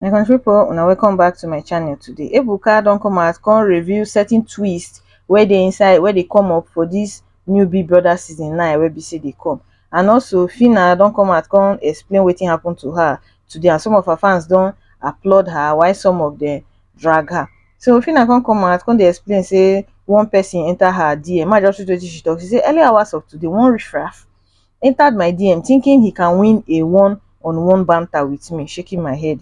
my country people una welcome back to my channel today ebuka don come out come review certain twist wey dey inside wey dey come up for this new big brother season 9 wey be say dey come and also fina don come out come explain wetin happen to her today and some of her fans don applaud her while some of them drag her So Fina come come out, come dey explain say one person enter her DM. Ma just read wetin she talk. She say early hours of today, one riffraff entered my DM thinking he can win a one on one banter with me, shaking my head.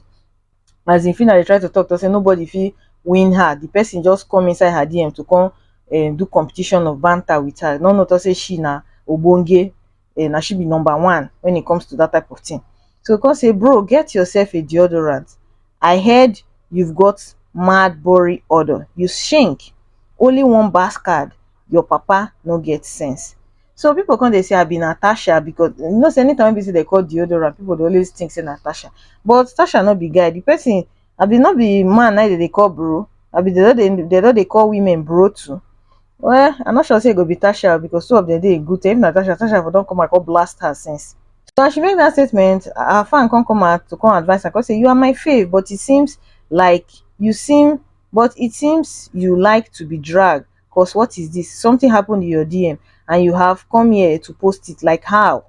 As in Fina dey try to talk to say nobody fit win her. The person just come inside her DM to come um, do competition of banter with her. No no talk say she na obonge eh, na she be number one when it comes to that type of thing so come say bro get yourself a deodorant i heard you've got mad body odor you shink only one bass card your papa no get sense so people come they say i be natasha because you know say anytime people say they call deodorant people dey always think say natasha but natasha not be guy the person abi no be man na dem dey call bro abi dem no dey dem no dey call women bro too well i no sure say e go be tasha o because two of dem dey in good terms if na tasha tasha for don come out come blast her since so as she make that statement her fan come come out to come advise her come say you are my fave but it seems like you seem but it seems you like to be dragged cause what is this something happened in your dm and you have come here to post it like how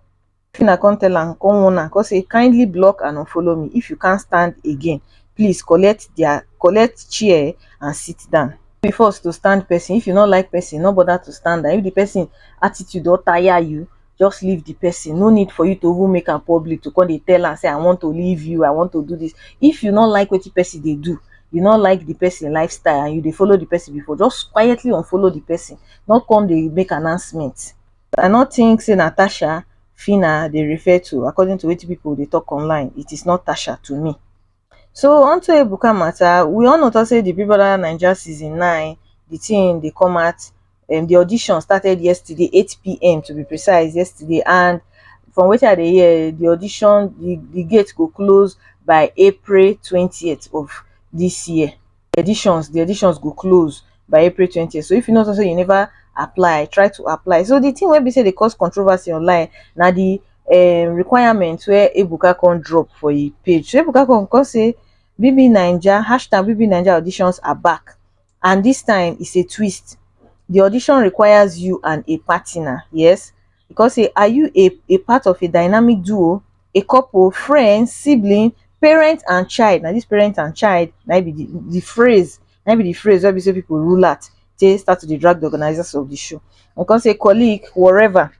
Fina come tell am, come warn am, come say kindly block and unfollow me if you can't stand again, please collect their collect chair and sit down. No be force to stand person, if you no like person, no bother to stand am, if the person attitude don tire you, just leave the person, no need for you to even make am public to come dey tell am say I want to leave you, I want to do this, if you no like wetin person dey do, you no like the person lifestyle and you dey follow the person before, just quietly unfollow the person, no come dey make announcement. I no think say na Tasha Phyna dey refer to according to wetin people dey talk online, it is not Tasha to me. So unto Ebuka matter, we all know talk say the Big Brother Naija season nine, the thing dey come out, um, the audition started yesterday, 8 p.m. to be precise, yesterday, and from wetin I dey hear, the audition, the, the gate go close by April 20th of this year. the editions the editions go close by april 20th so if you know say you never apply try to apply so the thing wey be say dey cause controversy online na the um, requirement where ebuka come drop for e page so ebuka come come say bb naija hashtag bb naija auditions are back and this time is a twist the audition requires you and a partner yes E come say, are you a a part of a dynamic duo, a couple, friend, sibling, parent and child? Na this parent and child na im be the the phrase na im be the phrase wey be say people rule out take start to dey drag the organizers of the show. E come say colleague, whatever.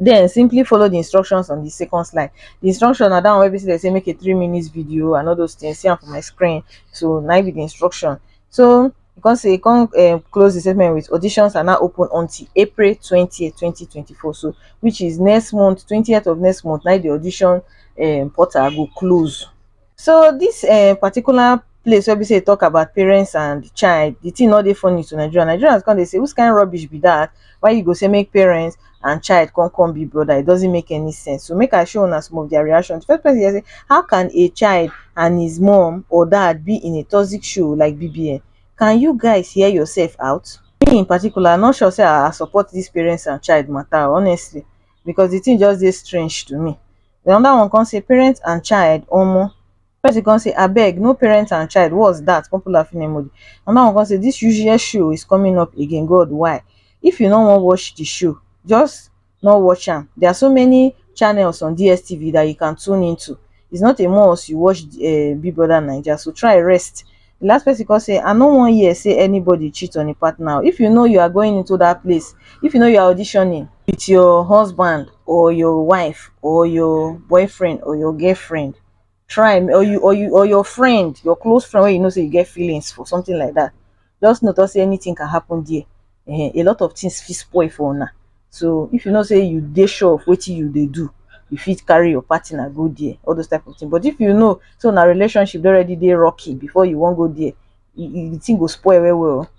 Then simply follow the instructions on the second slide. The instruction na that one wey be say dem say make a three minutes video and all those things. See am for my screen. So na im be the instruction. So e come say e come um close di statement wit auditions are now open until april twenty, twenty twenty four so which is next month twenty of next month na im di audition um portal go close. So dis um particular place wey be sey e talk about parents and child, di thing no dey funny to Nigerians, Nigerians come dey sey which kind rubbish be dat why you go sey make parents and child come come be brother it doesn't make any sense so make i show una some of their reaction the first person here say how can a child and his mom or dad be in a toxic show like bbn can you guys hear yourself out me in particular i'm not sure say i support this parents and child matter honestly because the thing just dey strange to me the other one come say parents and child omo person come say abeg no parent and child what's that popular film emoji another one come say this useless show is coming up again god why if you no wan watch the show just no watch am there are so many channels on dstv that you can tune into it's not a must you watch uh, big brother naija so try rest the last person come say i no wan hear say anybody cheat on a partner if you know you are going into that place if you know you are auditioning with your husband or your wife or your boyfriend or your girlfriend try or you or you or your friend your close friend when you know say you get feelings for something like that just know say anything can happen there uh, a lot of things fit spoil for una so if you know say you dey sure of what you they do you fit carry your partner go there all those type of things but if you know so now relationship already they rocky before you won't go there you, you think go spoil well well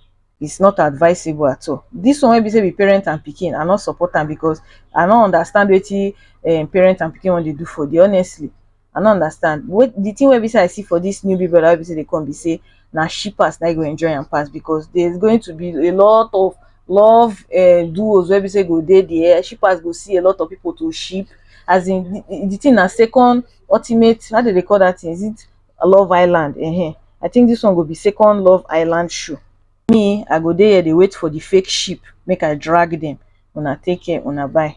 it's not advisable at all this one wey be say be parent and pikin i no support am because i no understand wetin um, parent and pikin wan dey do for there honestly i no understand what the thing wey be say i see for this new big brother wey be say dey come be say na shippers na e go enjoy am pass because there's going to be a lot of love uh, duos wey be say go dey there shippers go see a lot of people to ship as in the, the thing na second ultimate how they dey call that thing is it love island um i think this one go be second love island show me i go dey here dey wait for the fake ship make i drag them una take care una bye